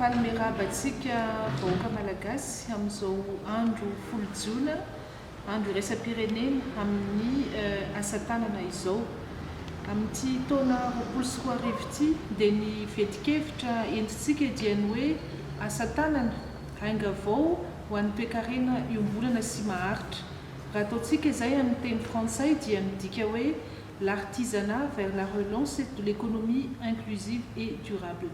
Fanome raba antsika vahoaka Malagasy amin'izao andro folo jona Andro iraisam-pirenena amin'ny asa tanana izao. Amin'ity taona roapolo sy roa arivo ity dia ny vetin-kevitra entintsika dia ny hoe Asa tanana, ainga vao ho an'ny toekarena iombonana sy maharitra. Raha ataontsika izay amin'ny teny frantsay dia midika hoe L'artisanat vers la relance de l'économie inclusive et durable.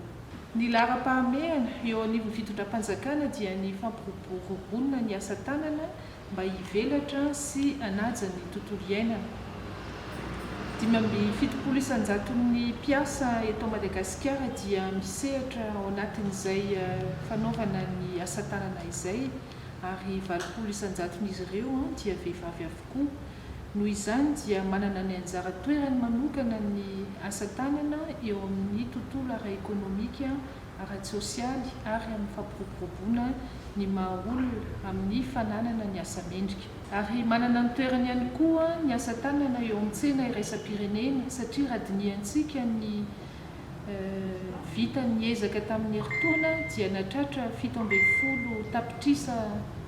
Ny laharam-pahamehana eo anivon'ny fitondram-panjakana dia ny fampiroboroboana ny asa tanana mba hivelatra sy hanaja ny tontolo iainana. Dimy amby fitopolo isan-jaton'ny mpiasa eto Madagasikara dia misehatra ao anatin'izay fanaovana ny asa tanana izay ary valopolo isan-jaton'izy ireo dia vehivavy avokoa. Noho izany dia manana ny anjara toerany manokana ny asa tanana eo amin'ny tontolo ara-ekonomika ara-tsosialy ary amin'ny fampiroboroboana ny maha-olona amin'ny fananana ny asa mendrika. Ary manana ny toerany ihany koa ny asa tanana eo amin'ny tsena iraisam-pirenena satria raha dinihantsika ny vitan'ny ezaka tamin'ny herintaona dia nahatratra fito ambin'ny folo tapitrisa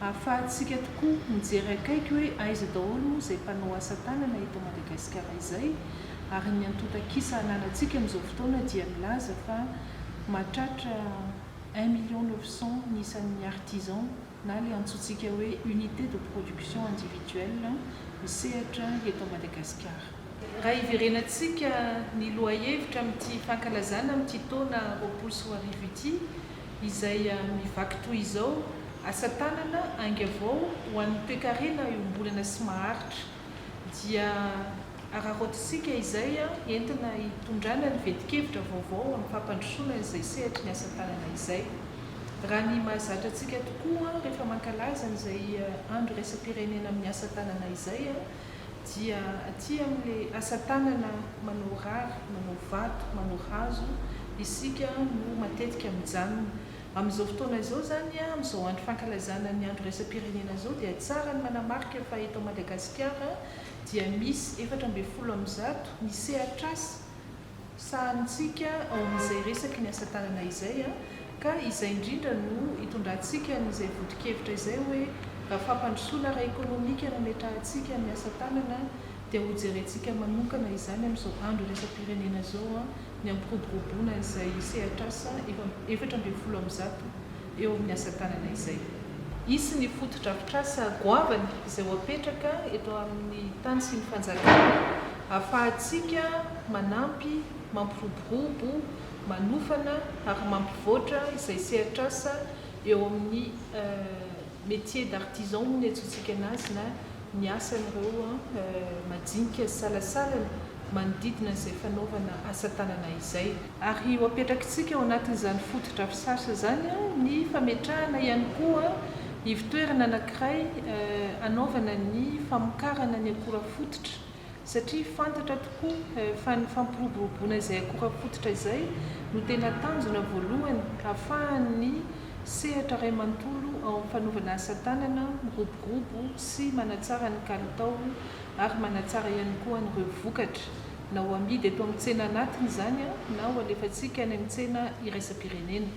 Ahafahantsika tokoa mijery akaiky hoe aiza daholo moa izay mpanao asa tanana eto Madagasikara izay, ary ny antontan-kisa ananantsika amin'izao fotoana dia milaza fa mahatratra un million neuf cent ny isan'ny artisans na ilay antsointsika hoe unités de production individuelle misehatra eto Madagasikara. Raha hiverenantsika ny lohahevitra amin'ity fankalazana amin'ity taona roapolo sy roa arivo ity, izay mivaky toy izao, Asa tanana, ainga avao ho an'ny toekarena iombonana sy maharitra. Dia araraotintsika izay entina hitondrana ny vetin-kevitra vaovao amin'ny fampandrosoana izay sehatry ny asa tanana izay. Raha ny mahazatra antsika tokoa rehefa mankalaza an'izay andro iraisam-pirenena amin'ny asa tanana izay, dia aty amin'le asa tanana manao rary, manao vato, manao hazo isika no matetika mijanona. Amin'izao fotoana izao zany, amin'izao andro fankalazana ny andro iraisam-pirenena izao dia tsara ny manamarika fa eto Madagasikara dia misy efatra ambin'ny folo amin'ny zato ny sehatr'asa, sahanintsika ao amin'izay resaky ny asa tanana izay a, ka izay indrindra no itondrantsika an'izay vodin-kevitra izay hoe raha fampandrosoana ara-ekonomika no ametrahantsika amin'ny asa tanana dia ho jerentsika manokana izany amin'izao andro iraisam-pirenena izao a, ny hampiroboroboana an'izay sehatr'asa efatra ambin'ny folo amin'ny zato eo amin'ny asa tanana izay. Hisy ny fotodrafitrasa goavana izay ho apetraka eto amin'ny tany sy ny fanjakana hahafahantsika manampy, mampiroborobo, manofana ary mampivoatra izay sehatr'asa eo amin'ny métier d'artisan hoy ny antsointsika anazy na ny asan'ireo majinika sy salasalany manodidina izay fanaovana asa tanana izay. Ary ho apetrakitsika ao anatin'izany fotodrafitrasa izany ny fametrahana ihany koa ivontoerana anankiray hanaovana ny famokarana ny akora fototra, satria fantatra tokoa fa ny fampiroboroboana izay akora fototra izay no tena tanjona voalohany ahafahan'ny sehatra iray manontolo ao amin'ny fanaovana asa tanana miroborobo sy manatsara ny kalitao ary manatsara ihany koa an'ireo vokatra na ho amidy eto amin'ny tsena anatiny izany na ho alefantsika any amin'ny tsena iraisam-pirenena.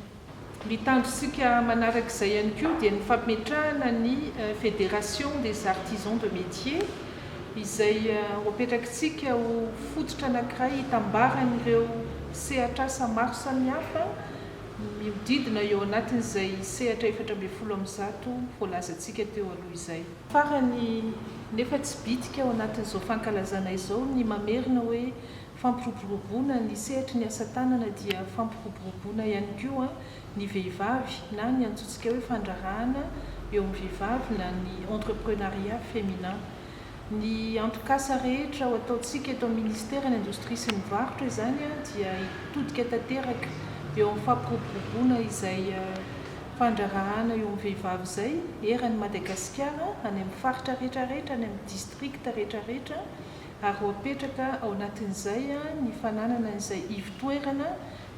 Ny tanjontsika manaraka izay ihany koa dia ny fametrahana ny Fédération des Artisans de Métier izay ho apetrakitsika ho fototra anankiray hitambaran'ireo sehatr'asa maro samihafa mihodidina eo anatin'izay sehatra efatra ambin'ny folo amin'ny zato voalazantsika teo aloha izay. Farany, nefa tsy bitika ao anatin'izao fankalazana izao ny mamerina hoe fampiroboroboana ny sehatry ny asa tanana dia fampiroboroboana ihany koa ny vehivavy na ny antsointsika hoe fandraharana eo amin'ny vehivavy na ny entreprenariat féminin. Ny antokasa rehetra ao ataontsika eto amin'ny Ministeran'ny indostria sy ny varotra izany dia hitodika tanteraka eo amin'ny fampiroboroboana izay fandraharahana eo amin'ny vehivavy izay eran'i Madagasikara any amin'ny faritra rehetrarehetra, any amin'ny districts rehetrarehetra ary ho apetraka ao anatin'izay ny fananana izay ivo-toerana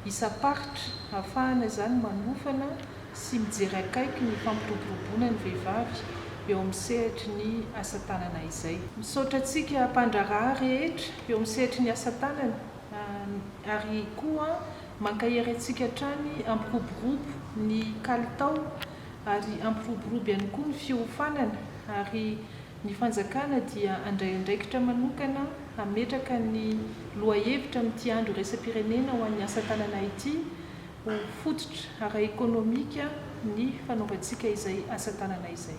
isam-paritra hahafahana izany manofana sy mijery akaiky ny fampiroboroboana ny vehivavy eo amin'ny sehatry ny asa tanana izay. Misaotra antsika mpandraharaha rehetra eo amin'ny sehatry ny asa tanana ary koa Mankahery antsika hatrany, ampiroborobo ny kalitao ary ampiroborobo ihany koa ny fiofanana ary ny fanjakana dia handray andraikitra manokana hametraka ny lohahevitra amin'ity andro iraisam-pirenena ho an'ny asa tanana ity ho fototra ara-ekonomika ny fanaovantsika izay asa tanana izay.